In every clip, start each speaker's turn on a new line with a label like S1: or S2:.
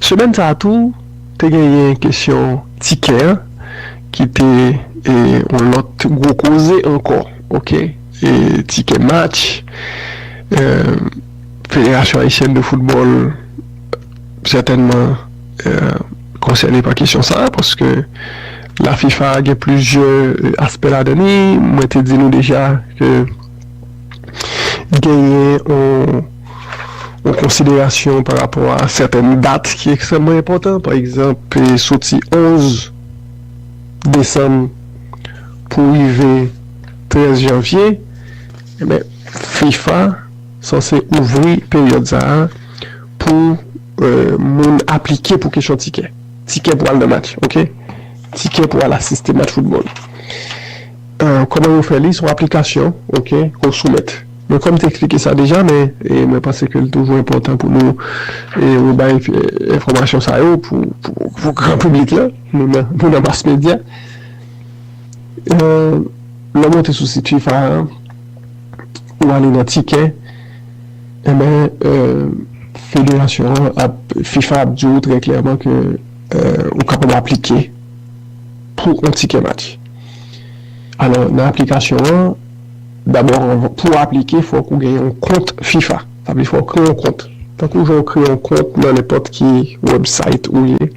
S1: Semèn sa a tou, te genyen kesyon tikè an ki te yon lòt gwo koze ankò ok. Tikè match Federasyon Ayisyèn de Foutbòl sètènman konsène pa kesyon sa a paske la fifa gen plizyè aspè ladan li. Mwen te di nou deja ke genyen yon. Yon konsiderasyon pa rapò a sèten dat ki ekstrèmman enpòtan, pa egzanp, soti 11 desanm pou rive 13 janvye, enben fifa sanse ouvri peryòd sa a pou moun aplike pou kesyon tikè. Tikè pou al nan match, oke. Tikè pou al asiste match foutbòl. Kòman yo fè li? Se yon aplikasyon, oke, ke w soumèt. Bon kòm te eksplike sa deja men mwen panse ke li toujou enpòtan pou nou rebay enfòmasyon sa yo pou gran piblik la, nou nan mas medya. Lè w monte sou sit fifa a, ou ale nan tikè, enben federasyon an ap, fifa ap di w trè klèman ke ou kapab aplike pou yon tikè match. Alò nan aplikasyon an. Dabò pouw aplike fòk ou gen yon kont fifa sa vle fè ou kreye yon kont tankou jan ou kreye yon kont nan nenpòt ki website ou ye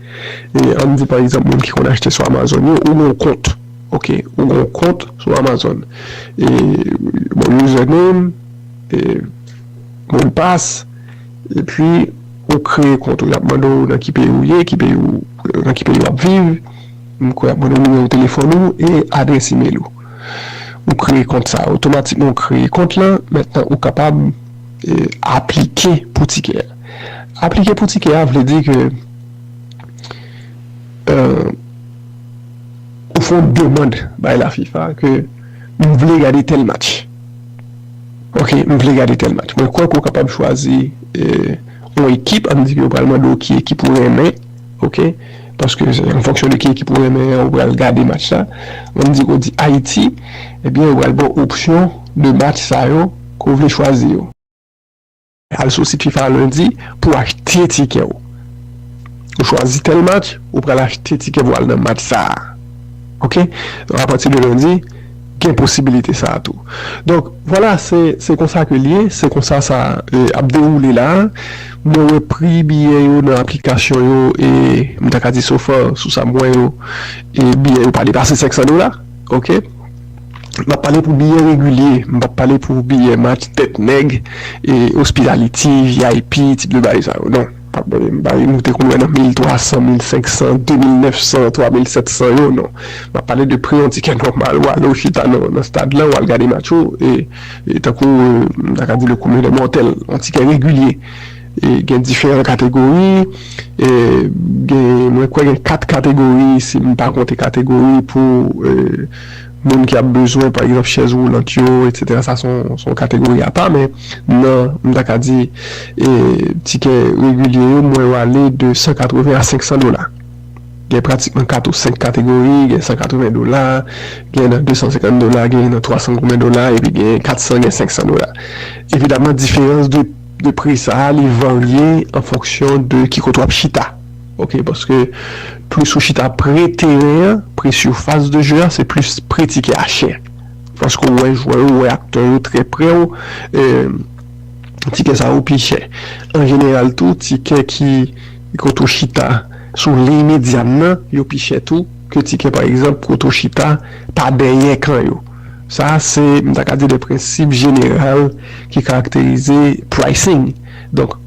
S1: ann di pa egzanp moun ki konn achte sou amazon yo ou gen yon kont ok ou gen yon kont sou amazon bon user name modpas epi ou kreye kont ou yap mande ou nan ki peyi ou ye ki peyi ou nan ki peyi wap viv m kwè yap mande ou nimewo telefòn ou e adrès email ou. Ou kreye kont sa a. Otomatikman ou kreye kont lan. Mentnan ou kapab aplike pou tikè a. Aplike pou tikè a vle di ke ou fè yon demand bay la fifa ke m vle gade tèl match. Ok, m vle gade tèl match. Mwen kwè ke ou kapab chwazi yon ekip. An nou di ke yo pral mande w ki ekip ou renmen. Ok paske se an fonksyon de ki ekip ou renmen an ou pral gade match la menm di ou di Ayiti ebyen yo pral ba w opsyon de match sa yo ke w vle chwazi yo. Al sou sit fifa lendi pou w achte tikè w. Ou chwazi tèl match ou pral achte tikè pou w al nan match sa a ok apati de lendi. gen posibilite sa a tou. Donk, vwala se se konsa ke l ye, se konsa sa ap dewoule la a. Mwen wè pri biyè yo nan aplikasyon yo e m ta ka di sofa sou sa m wè yo e biyè yo pa depase 500 dola, oke. M ap pale pou biyè regilye, m p ap pale pou biyè match tèt nèg e ospitaliti, vip, tip de bagay sa yo, non. Pa bay m bay nou te konn wè nan 1300, 1500, 2900, 3700 yo non. M ap pale de pri yon tikè nòmal ou ale ou chita nan stad lan ou al gade match ou e tankou m ta ka di le commun des mortels yon tikè regilye e gen diferan kategori e gen mwen kwè gen 4 kategori si m pa konte kategori pou moun ki ap bezwen pa egzanp chèz woulant yo etsetera sa son son kategori apa men nan m ta ka di e tikè regilye yo mwen yo ale de 180 a 500 dola gen pratikman 4 ou 5 kategori gen 180 dola gen nan 250 dola gen nan 300 goumen dola epi gen 400 gen 500 dola evidamman diferans de de pri sa li varye an fonksyon de ki kote w ap chita. Ok paske plis ou chita pre teren an pre surface de jeu a se plis pre ti kè a chè paske ou wè jwè yo ou wè aktè yo trè prè ou ti kè sa yo pi chè an jeneral tou ti kè ki kote ou chita sou liy medyàn nan yo pi chè tou ke ti kè pa egzanp kote ou chita pa dèyè kan yo sa se m ta ka di de prensip jeneral ki karakterize pricing donk.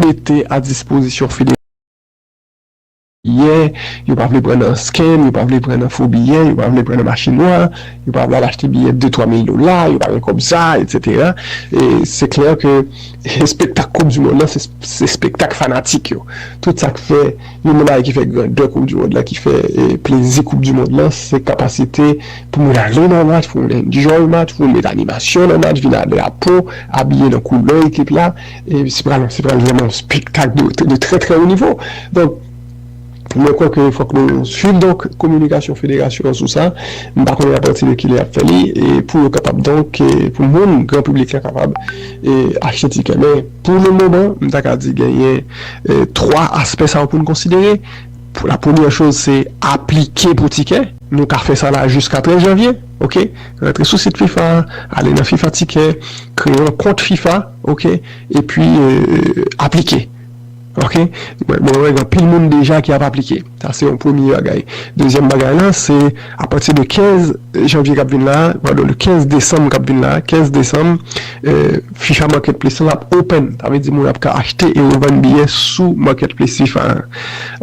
S1: mete a dispozisyon federal biyè, yo pa vle pran nan scam, yo pa vle pran nan fo biyè, yo pa vle pran nan mache nwa, yo pa vle al achte biyè de twa mil dola, yo pa gen kòb sa, etsetera. E se klè ke espektak koup di mond lan se espektak fanatik yo. Tout sa k fè. Youn nan bagay ki fè grandè koup du mond la ki fè plezi koup du mond lan se kapasite pou moun ale nan match pou moun enjoy match pou moun met animasyon nan match vin a drapo abiye nan koulè ekip la e se pral se pral vrèman yon spektak de trè trè wo nivo donk mwen kwè ke fòk nou swiv donk kominikasyon federasyon an sou sa m pa konnen apati de kilè y ap fè li e pou yo kapab donk pou moun gran piblik la kapab e achte tikè men. Pou le moman, m ta ka di genyen 3 aspè sa yo pou n konsidere. La premyè choz se aplike pou tikè. Nou ka fè sa la jiska 13 janvye. Ok. Rantre sou sit fifa a, ale nan fifa tikè, kreye yon kont fifa, ok, epi aplike. Ok mwen wè gen anpil moun deja ki ap aplike sa se yon premye bagay dezyèm bagay la se apati de 15 janvye kap vin la padon de 15 desanm kap vin la 15 desanm fifa market place lan ap open sa vle di moun ap ka achte e revann biyè sou market place fifa an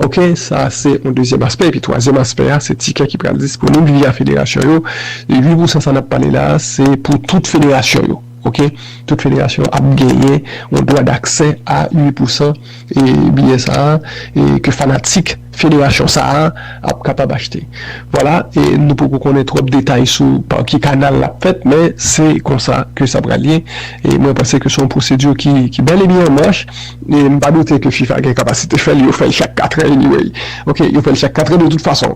S1: ok sa se yon dezyèm aspè epi twazyèm aspè a se tikè ki pral disponib via federasyon yo e 8 pousan sa nap pale la se pou tout federasyon yo. Ok tout federasyon ap genyen yon dwa daksè a 8 pousan biyè sa a ke fanatik federasyon sa a ap kapab achte. Vwala nou poko konnen twòp detay sou pa ki kanal lap fèt men se konsa ke sa pral ye e mwen panse ke se yon pwosedi ki bèl e byen an mach e m pa doute ke fifa gen kapasite fè l yo fè l chak katrè anyway ok yo fè l chak katrè de tout fason.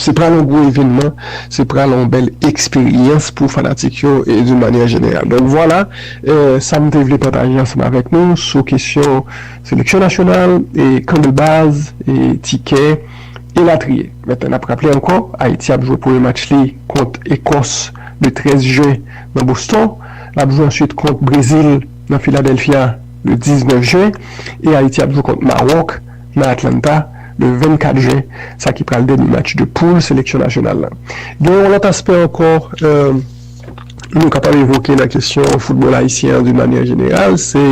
S1: Se pral yon gwo evenman, se pral yon bèl eksperyans pou fanatik yo d'une manière générale. Donk vwala sa m te vle pataje ansanm avèk nou sou kesyon seleksyon nasyonal, kan de baz, tikè, elatriye. Mèt n ap raple ankò, Ayiti ap jwe premye match li kont Ekòs le 13 jen nan Boston, l ap jwe answit kont Brezil nan Philadelphia le 19 jen e Ayiti ap jwe kont Mawòk. nan Atlanta le 24 jen sa ki pral dènye match de poul seleksyon nasyonal la. Gen yon lòt aspè ankò nou kapab evoke nan kesyon foutbòl ayisyen an doun manyè jeneral se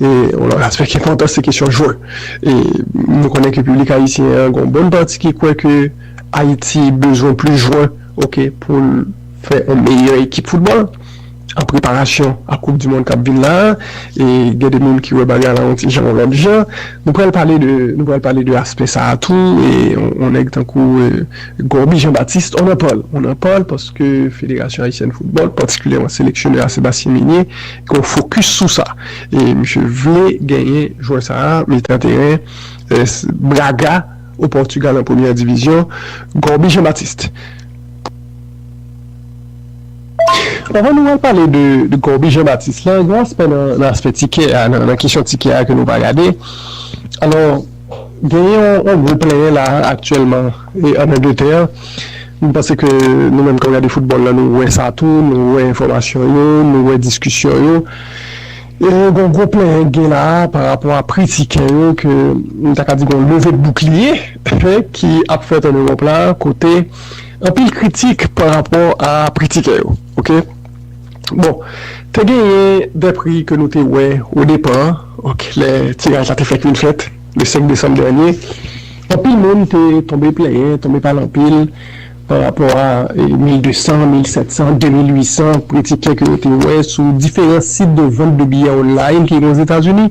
S1: yon lòt aspè ki enpòtan se kesyon jwè e nou konnen ke piblik ayisyen an gen yon bon pati ki kwè ke Ayiti bezwen plis jwè ok pou l fè yon meyè ekip foutbòl. An preparasyon a koup dimond kap vin la e gen de moun ki wè bagay la yon ti jan yon lòt jan nou pral pale de nou pral pale de aspè sa a tou e yon nèg tankou Gorby Jean Baptiste on en parle on en parle paske federasyon ayisyèn foutbòl patikilyèman seleksyonè a Sébastien Migné gen yon fokis sou sa e misye vle genyen jwè sa a mitan teren Braga o Portugal an premyè divizyon Gorby Jean Baptiste. Avan nou al pale de Corby Jean Baptiste la, gen yon aspè nan aspè tikè a, nan kesyon tikè a ke nou pa gade. Alò, gen yon gwo plenyen la aktyèlman an Angletè. M panse ke nou menm k ap gade foutbòl la nou wè sa tou, nou wè enfòmasyon yo, nou wè diskisyon yo. E gen yon gwo plenyen k gen la a pa rapò a pri tikè yo ke m ta ka di gen yon leve boukliye ki ap fèt an Ewòp la kote Anpil kritik pa rapò a pri tikè yo ok bon te genyen de pri ke nou te wè o depa ok lè tiraj la te fèk vin fèt le 5 desanm dènye anpil moun te tonbe plenyen tonbe pale anpil pa rapò a 1200 1700 2800 pri tikè ke yo te wè sou diferan sit de vant de biyè online ki ozetazini.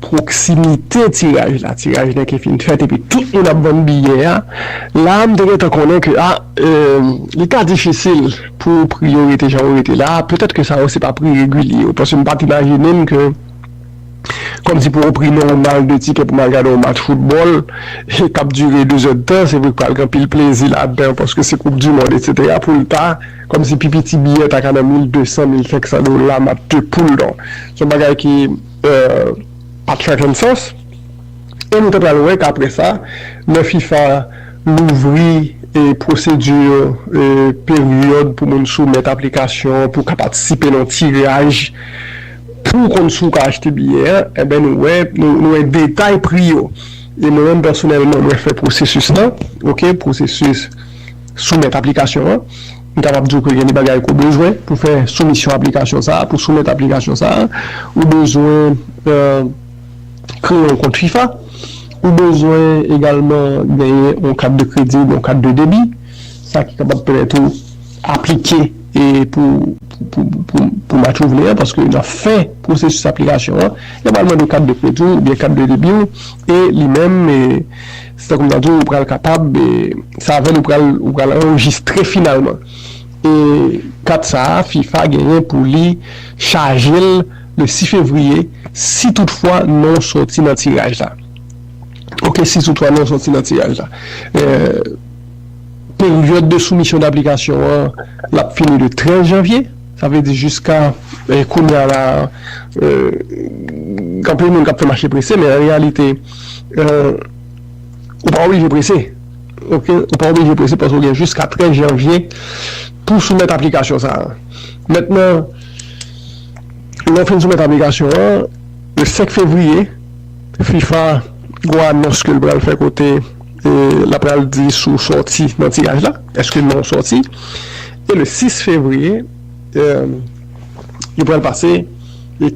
S1: pwoksimite tiraj la, tiraj la ki fin fèt epi tout moun ap vann biyè a, la a m te gentan konnen ke a li ka difisil pou pri yo rete jan yo rete la a, petèt ke sa yo se pa pri regilye yo, paske m pa t imajine m ke kòmsi pou yon pri nòmal de tikè pou m al gade yon match foutbòl k ap dire dezèdtan, se vre k pral gen anpil plezi ladan paske se koup di mond etsetera pou l ta kòmsi pi piti biyè ta ka nan mil desan, mil senksan dola match de poul donk se yon bagay ki. pat fè grenn sans e nou te pral wè kapre sa lè fifa louvri pwosedi peryòd pou moun soumèt aplikasyon pou ka patisipe nan tiraj pou konn si w ka achte biyè a enben nou wè nou wè detay pri yo e mwen menm pèsonèlman mwen fè pwosesis lan ok pwosesis soumèt aplikasyon an. M kapab di w ke gen de bagay ke w bezwen pou fè soumisyon aplikasyon sa a, pou soumèt aplikasyon sa a. Ou bezwen kreye yon kont fifa. Ou bezwen egalman genyen yon kat de kredi oubyen yon kat de debi. Sa ki kapab pèmèt ou aplike pou match ou vle a. Paske nan fen pwosesis aplikasyon an, yo pral mande kat de kredi w oubyen kat de debi w. E li menm. Se tankou m ta di w ou pral kapab se avè l ou pral ou pral anrejistre finalman e kat sa a fifa genyen pou li chaje l le 6 fevriye si tout fwa non w soti nan tiraj la ok si tout fwa non w soti nan tiraj la peryòd de soumisyon daplikasyon an l ap fini le 13 janvye sa vle di jiska kounye a la anpil moun k ap fè mache prese men an reyalite. Ou pa oblije prese ok, ou pa oblije prese paske ou gen jiska 13 janvye pou w soumèt aplikasyon sa a. Mentnan, lè w fin soumèt aplikasyon an, le 5 fevriye, fifa gwo anons ke l pral fè kote l ap pral di si w sòti nan tiraj la, èske non w sòti, e le 6 fevriye, yo pral pase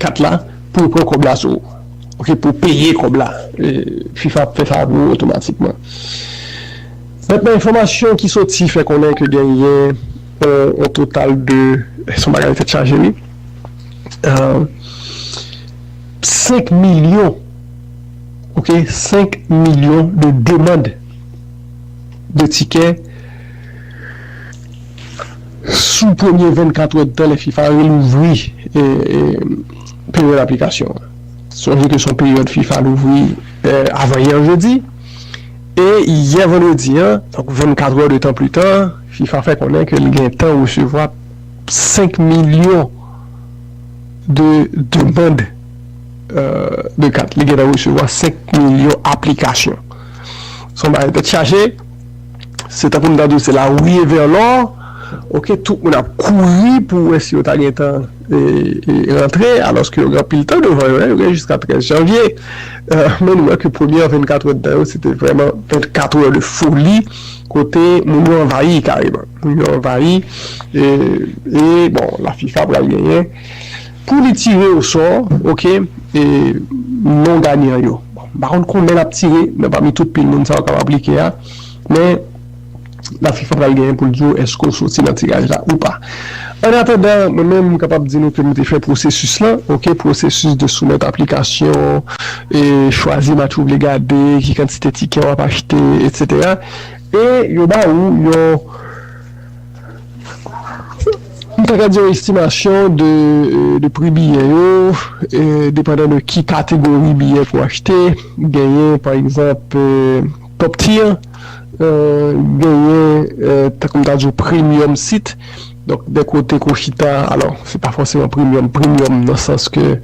S1: kat la pou yo pran kòb la sou ou. Ok pou peye kòb la fifa ap fè sa pou ou otomatikman. Met men enfòmasyon ki soti fè konnen ke genyen on total de son bagay tèt chaje wi 5 milyon ok 5 milyon de demand de tikè sou premye 24 wè de tan lè fifa relouvri. peryòd aplikasyon an. Sonje ke se yon peryòd fifa louvri avan yè jedi, e yè vandredi an, donk 24 è de tan pli ta, fifa fè konnen ke li gen tan resevwa 5 milyon de demand de kat, li gen tan resevwa 5 milyon aplikasyon. Se yon bagay tèt chaje, se tankou m ta di w se la ruée vers l'or, ok, tout moun ap kouri pou wè si yo ta gen tan. rantre alòske yo gen anpil tan devan yo, yo gen jiska 13 janvye, men nou wè ke premyè 24 èdtan yo se te vrèman 24 è de foli kote moun yo anvayi kareman, moun yo anvayi e bon la fifa pral genyen pou li tire osò ok non ganyan yo, m pa konn konbyen lap tire nan pami tout pil moun sa yo kap aplike a men. la fifa pral genyen pou l di w èske w soti nan tiraj la ou pa. Ann atandan, mwen menm m kapab di nou ke m te fè pwosesis lan, ok, pwosesis de soumèt aplikasyon, e chwazi match ou vle gade, ki kantite tikè w ap achte, etsetera, e yo ba ou yon, m ta ka di yon estimasyon de pri biyè yo, depandan de ki kategori biyè pou w achte, genyen pa egzanp. Top tier genyen tankou m ta di w premium sit donk de kote ke w chita alò se pa fòseman premium premium nan sans ke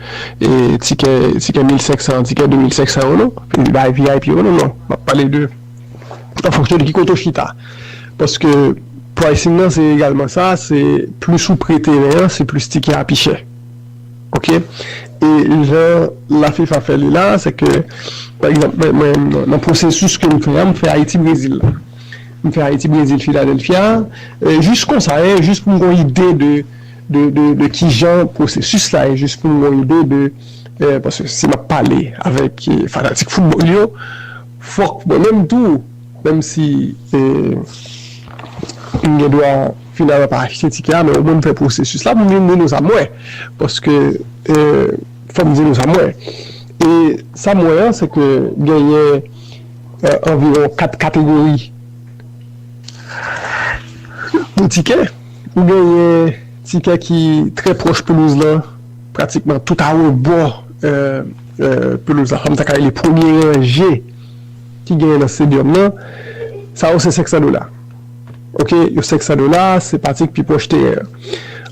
S1: tikè tikè 1500 an tikè 2500 an non epi bay vip yo non non map pale de an fonksyon de ki kote w chita paske pricing nan se egalman sa se plis ou pre teren an se plis tikè a pi chè. Ok e jan la fifa fè li la se ke pa egzanp mwen mwen nan pwosesis ke m fè a m fè ayiti brezil la m fè ayiti brezil filadelfia jis konsa e jis pou m gon ide de de de kijan pwosesis la e jis pou m gon ide de e paske si m ap pale avèk fanatik foutbòl yo fòk mwen menm tou Menm si m gen dwa finalman pa achte tikè a men omwen m fè pwosesis la pou m vin di nou sa m wè. Paske fò m di nou sa m wè. E sa m wè an se ke genyen anviwon 4 kategori de tikè. Ou genyen tikè ki trè pwòch pelouz lan, pratikman tout arebò pelouz la, sa m ta ka rele premye ranje. ki genyen nan Stadium nan, sa yo se 500 dola. Ok, yo 500 dola, se pati ki pi pwòch teren an.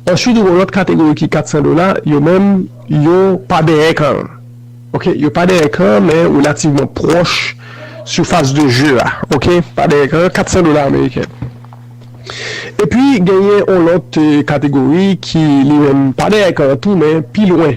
S1: Answit ou gen yon lòt kategori ki 400 dola, yo menm yo pa dèyè kan an. Ok, yo pa dèyè kan an men relativman pwòch surface de jeu a. Ok, pa dèyè kan an, 400 dola ameriken. Epi genyen yon lòt kategori ki li menm pa dèyè kan an tou men pi lwen.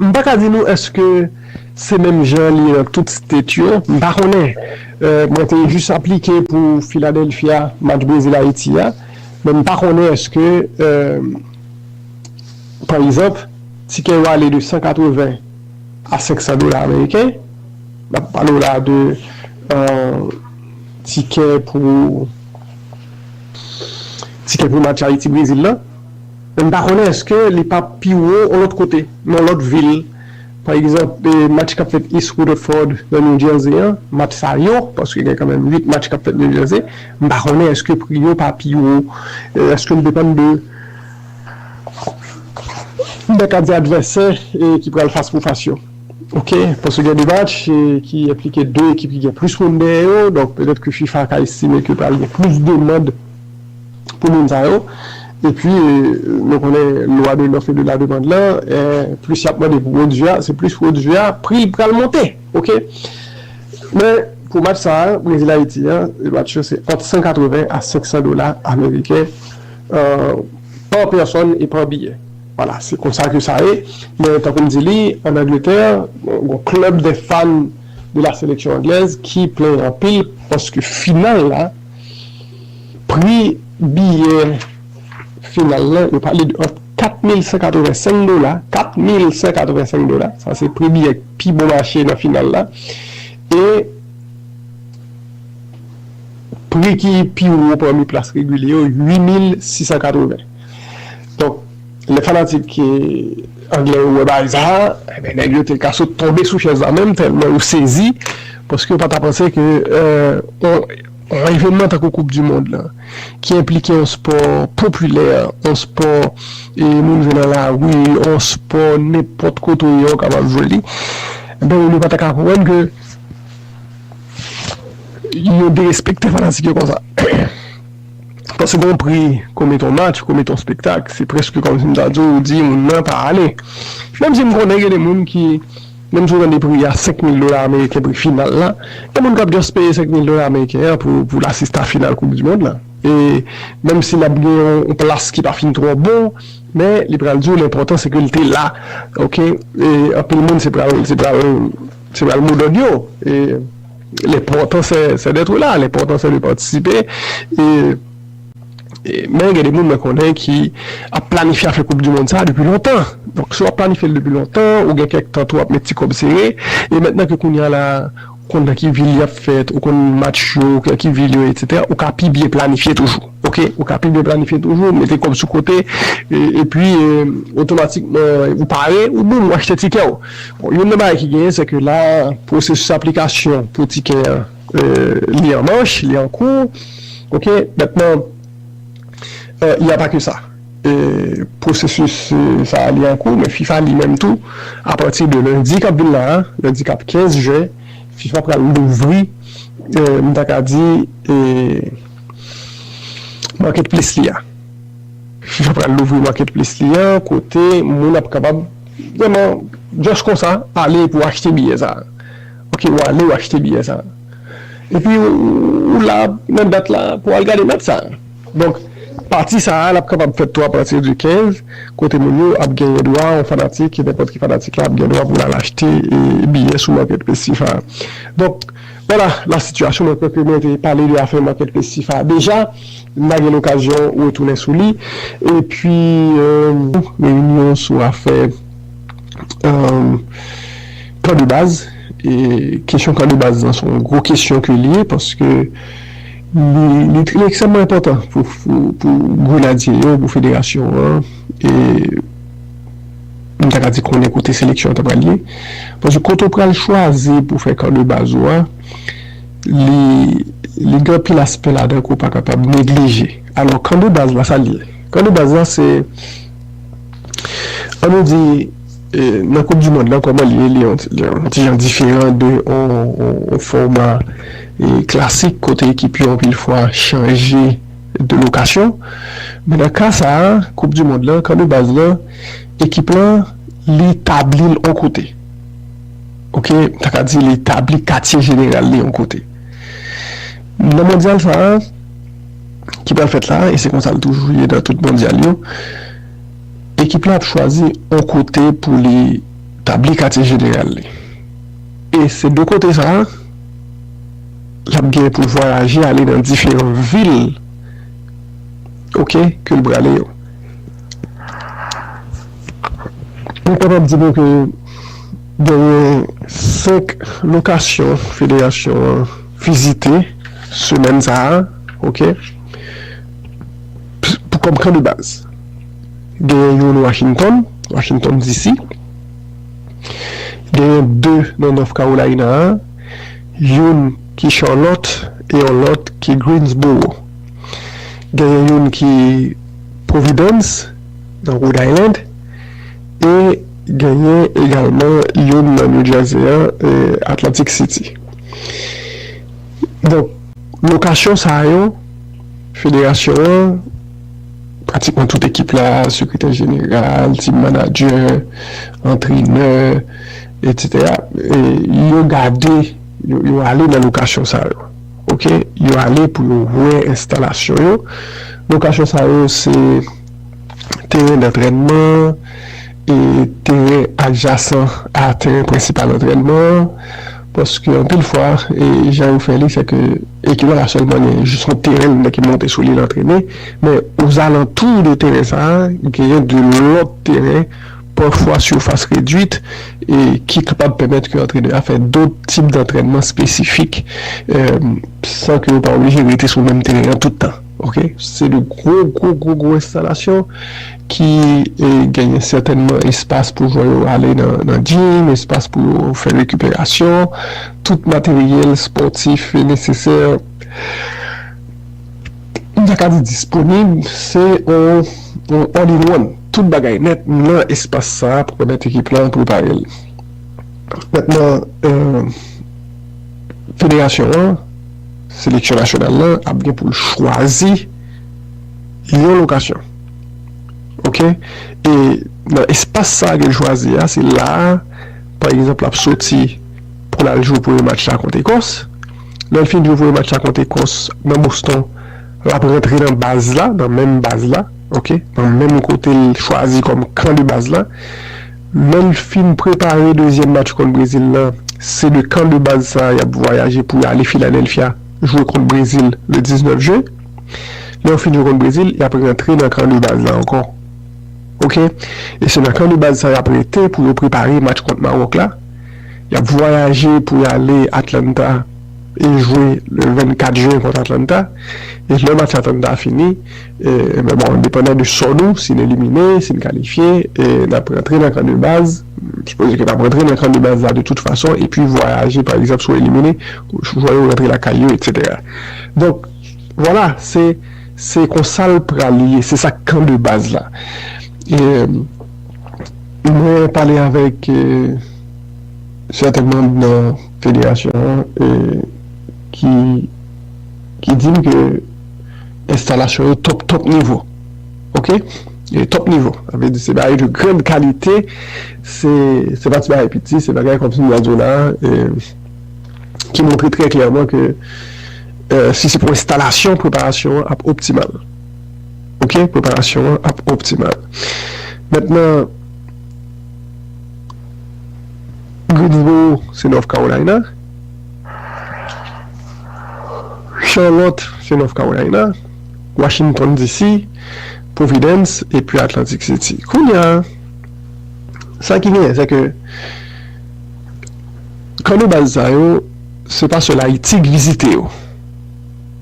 S1: M pa ka di nou eske se menm jan li ye nan tout state yo, m pa konnen. Mwen te jis aplike pou Philadelphia, match Brezil-Ayiti a, men m pa konnen eske, pa egzanp, tikè yo ale de 180 a 500 dola ameriken, n ap pale w la de tikè pou match Ayiti-Brezil lan. Men m pa konnen eske li pa pi wo yon lòt kote, nan yon lòt vil. Pa egzanp, match k ap fèt East Rutherford nan New Jersey an, match sa yo, paske gen kanmenm 8 match k ap fèt New Jersey, m pa konnen eske pri yo pa pi wo. Eske l depann de nèg k ap di advèsè ki pral fas pou fas yo? Ok. Paske gen 2 match ki enplike 2 ekip ki gen plis moun dèyè yo, donk petèt ke fifa ka estime ke pral gen plis demand pou moun sa yo epi nou konnen lwa de lòf e de la demand lan plis yap mande pou pwodui a se plis pwodui a pri l pral monte ok men pou match sa a Brezil Ayiti an e match yo se ant 180 a 500 dola ameriken pa pèsòn e pa biyè wala se konsa ke sa ye men tankou m di li an Angletè gon klèb de fan de la seleksyon anglèz ki plen anpil paske final la. Pri biyè final lan, yo pale de ant 4,185 dola, 4,185 dola, sa se pri biyè k pi bon mache nan final la, e pri ki pi wo pami plas regilye yo, 8,680. Donk. Lè fanatik anglè yo wè bagay sa a, enben nèg yo te ka sot tonbe sou chèz la menm tèlman yo sezi paske yo pa ta panse ke yon evènman tankou koup di mond lan ki enplike yon spò popilè, yon spò moun jwe nan lari, yon spò nenpòt kote ou ye ou kapab jwe li, enben moun yo pa ta ka konprann ke yo derespekte fanatik yo konsa. Paske gen yon pri ke w mete yon match, ke w mete yon spektak, se prèske kòmsi m ta di w, ou di moun nan pa ale. Menm si m konnen gen de moun ki, menm si w tande pri a, senk mil dola ameriken pri final la, gen moun k ap just peye senk mil dola ameriken an pou l asiste a final koup di mond la. E menm si l ap gen yon plas ki pa fin twò bon, men li pral di w lenpòtan se ke l te la. Ok, e anpil moun se pral, se pral, se pral modòd yo. E. L'important c'est d'être là, l'important c'est de participer et men gen de moun mwen konnen ki ap planifye afè koup du mond sa depi lontan, donk si wap planifyel depi lontan ou gen kèk tan tou wap met ti kòb sere e mentnan ke kounya la ou konn nan ki vil yap fèt ou konn match yo ou konn ki vil yo etc ou ka pi byen planifye toujou ok ou ka pi byen planifye toujou mete kòb sou kote epi otomatikman ou pare ou boom ou achte tikèw. Bon, youn nan bagay ki genyen, se ke la pwosesis aplikasyon pou tikè an, li an mach, li an kou, ok. Mentnan, y a pa ke sa, pwosesis sa a li an kou, men fifa li menm tou, apati de lendi k ap vin la a, lendi k ap 15 jen, fifa pral louvri, m ta ka di, marketplace li a. Fifa pral louvri marketplace li a, kote moun ap kapab. Vrèman just konsa ale pou achte biyè sa ok ou ale ou achte biyè sa epi ou la nan dat la pou al gade match sa donk pati sa a lap kapab fèt tou apati di 15 kote moun yo ap genyen dwa yon fanatik nenpòt ki fanatik la ap gen dwa pou l al achte biyè sou marketplace fifa a donk. Wala la sitiyasyon mwen kwè ke mwen te pale de afè Market Place Sifa deja, m pa gen lokazyon retounen sou li. Epi. Reyinyon sou afè kan de baz. Kesyon kan de baz lan se yon gwo kesyon ke li ye paske li ekstrèmman enpòtan pou grenadye yo, pou federasyon an. Pou m ta ka di konnen kote seleksyon an ta pral ye. Paske kote ou pral chwazi pou fè kan de baz ou a, li li gen anpil aspè ladan ke w pa kapab neglije. Alò, kan de baz la, sa l ye? Kan de baz la, se an nou di nan koup di mond lan kòman l ye, li yon ti yon ti jan diferan de yon fòma klasik kote ekip yo anpil fwa chanje. de lokasyon, men nan ka sa a koup du mond lan kan de baz lan ekip lan li tabli l on kote ok m ta ka di li tabli katye jeneral li on kote nan mondyal sa a ki pral fèt la e se konsa l toujou ye nan tout mondyal yo ekip lan ap chwazi on kote pou li tabli katye jeneral li e se de kote sa a. L ap gen pou l vwayaje ale nan diferan vil ok ke l prale yo. Mwen kapab di nou ke genyen 5 lokasyon federasyon an vizite semèn sa a ok. Pou kòm kan de baz. Genyen youn Washington, Washington DC. Genyen 2 nan North Carolina a. youn ki Charlotte e yon lòt ki Greensboro. Genyen youn ki Providence, nan Rhode Island, e genyen egalman youn nan New Jersey an, Atlantic City. Donk, lokasyon sa yo, federasyon an, pratikman tout ekip la, sekretè jeneral, team manager, antrenè, Etc yo gade yo ale nan lokasyon sa yo ok yo ale pou yo wè enstalasyon yo lokasyon sa yo se teren dantrènman e teren adjasan a teren prensipal antrènman an paske anpil fwa e jan yo fè li se ke ekip la pa sèlman gen jis yon teren li ki monte sou li l antrene men ozalantou de teren sa genyen de lòt teren pafwa surface reduite, ki kapab pèmèt ke antrenè a fè dot tip dantrènman espesifik san ke yo pa oblije rete sou menm teren an tout tan. Ok. Se de gwo, gwo, gwo, gwo enstalasyon ki genyen sètènman espas pou jwè yo ale nan gym, espas pou yo fè rekiperasyon, tout materyèl spòtif e nesesè, m ta ka di disponib, se yon all in one. Tout bagay nèt nan espas sa a pou pèmèt ekip lan prepare l nèt nan federasyon an. Seleksyon nasyonal lan ap gen pou l chwazi yon lokasyon ok e nan espas sa a ke l chwazi a se la a pa egzanp l ap soti pou l al jwe premye match la kont Ekòs. Lè l fin jwe premye match la kont Ekòs nan Boston l ap rantre nan baz la nan menm baz la. ok pran menm kote l chwazi kòm kan de baz la lè l fin prepare dezyèm match kont Brezil lan se de kan de baz sa y ap vwayaje pou y ale Filadèlfya jwe kont Brezil le 19 jen lè yo fin jwe kont Brezil y ap rantre nan kan de baz la ankò ok e se nan kan de baz sa y ap rete pou yo prepare match kont Mawòk la y ap vwayaje pou y ale Atlanta e jwe le 24 jen kont Atlanta e lè match Atlanta fini. Ebyen bon, depandan de sò nou, si n elimine, si n kalifye, n ap rantre nan kan de baz, m sipoze ke n ap rantre nan kan de baz la de tout fason, epi vwayaje pa egzanp si w elimine, jwè yo rantre lakay yo etsetera. Donk, vwala, se, se konsa l pral ye, se sa kan de baz la. Mwen pale avèk sèten manm nan federasyon an ki, ki di m ke. enstalasyon yo top top nivo ok e top nivo sa vle di se bagay de grand kalite se se pa ti bagay piti se bagay kòmsi m ta di w la e ki montre trè klèman ke e si se pou enstalasyon preparasyon an ap optimal ok preparasyon an ap optimal mètnan Greensboro se North Carolina. Charlotte, se North Carolina, Washington, DC, Providence, epi Atlantic City. Kounye a, sa ki genyen, se ke kan de baz sa yo, se pa sèl Ayiti ki vizite yo.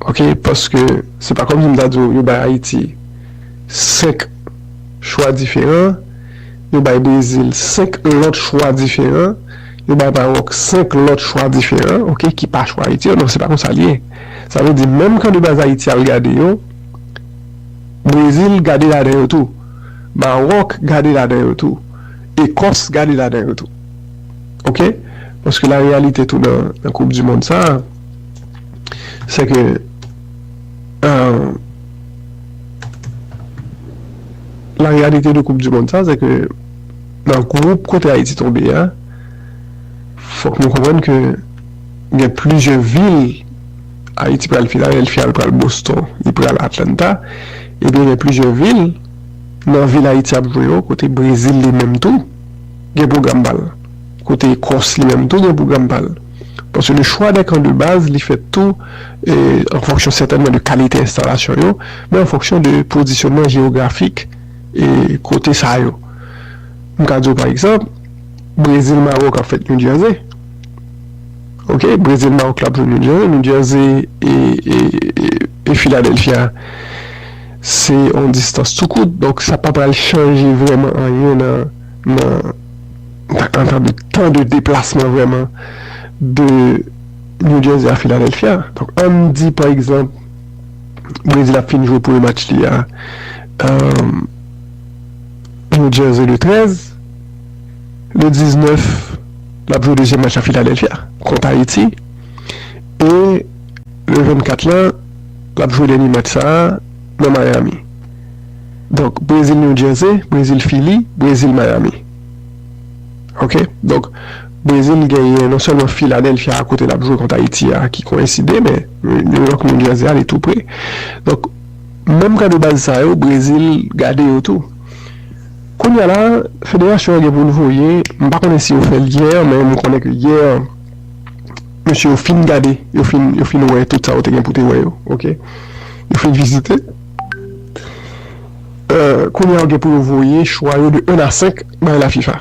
S1: Ok, paske se pa kòm si m ta di w yo bay Ayiti senk chwa diferan, yo bay Brezil senk lòt chwa diferan. Yo bay Maròk 5 lòt chwa diferan ok ki pa chwa Ayiti yo non se pa konsa li ye sa vle di menm kan de baz Ayiti al gade yo Brezil gade ladan yo tou Maròk gade ladan yo tou Ekòs gade ladan yo tou ok paske la reyalite tou nan koup di mond sa se ke eeuh la reyalite de koup di mond sa se ke. Nan gwoup kote Ayiti tonbe a, fòk nou konprann ke gen plizyè vil, Ayiti pral Filadelfya, li pral Boston, li pral Atlanta, ebyen gen plizyè vil nan vil Ayiti ap jwe yo kote Brezil li menm tou gen pwogram pa l, kote Ekòs li menm tou gen pwogram pa l. Paske le chwa dè kan de baz li fèt tou an fonksyon sètènman de kalite enstalasyon yo, men an fonksyon de pozisyonman jewografik. kote sa yo. M ka di w pa egzanp, Brezil Mawòk ap fèt New Jersey. Ok, Brezil Mawòk la ap jwe New Jersey. New Jersey e Philadelphia se yon distans tou kout. Donk sa pa pral chanje vrèman anyen nan antan de tan de deplasman vrèman de New Jersey a Philadelphia. Donk an n di pa egzanp. Brezil ap fin jwe premye match li a New Jersey le 13. Le 19, l ap jwe dezyèm match la Filadelfya kont Ayiti. E le 24 la, l ap jwe dènye match sa a nan Miami. Donk, Brezil-New Jersey, Brezil-Fili, Brezil-Miami. Ok, donk Brezil genyen non sèlman Filadelfya kote l ap jwe kont Ayiti a ki koyenside men. New York New Jersey a li tou pre donk menm kan de baz sa yo Brezil gade yo tou kounya la federasyon an gen pou l voye m pa konnen si yo fè l yè men m konnen ke yè mesye yo fin gade yo fin yo fin wè tout sa yo te gen pou te wè yo ok yo fin vizite kounya yo gen pou yo voye chwa yo de 1 a 5 bay lafifa.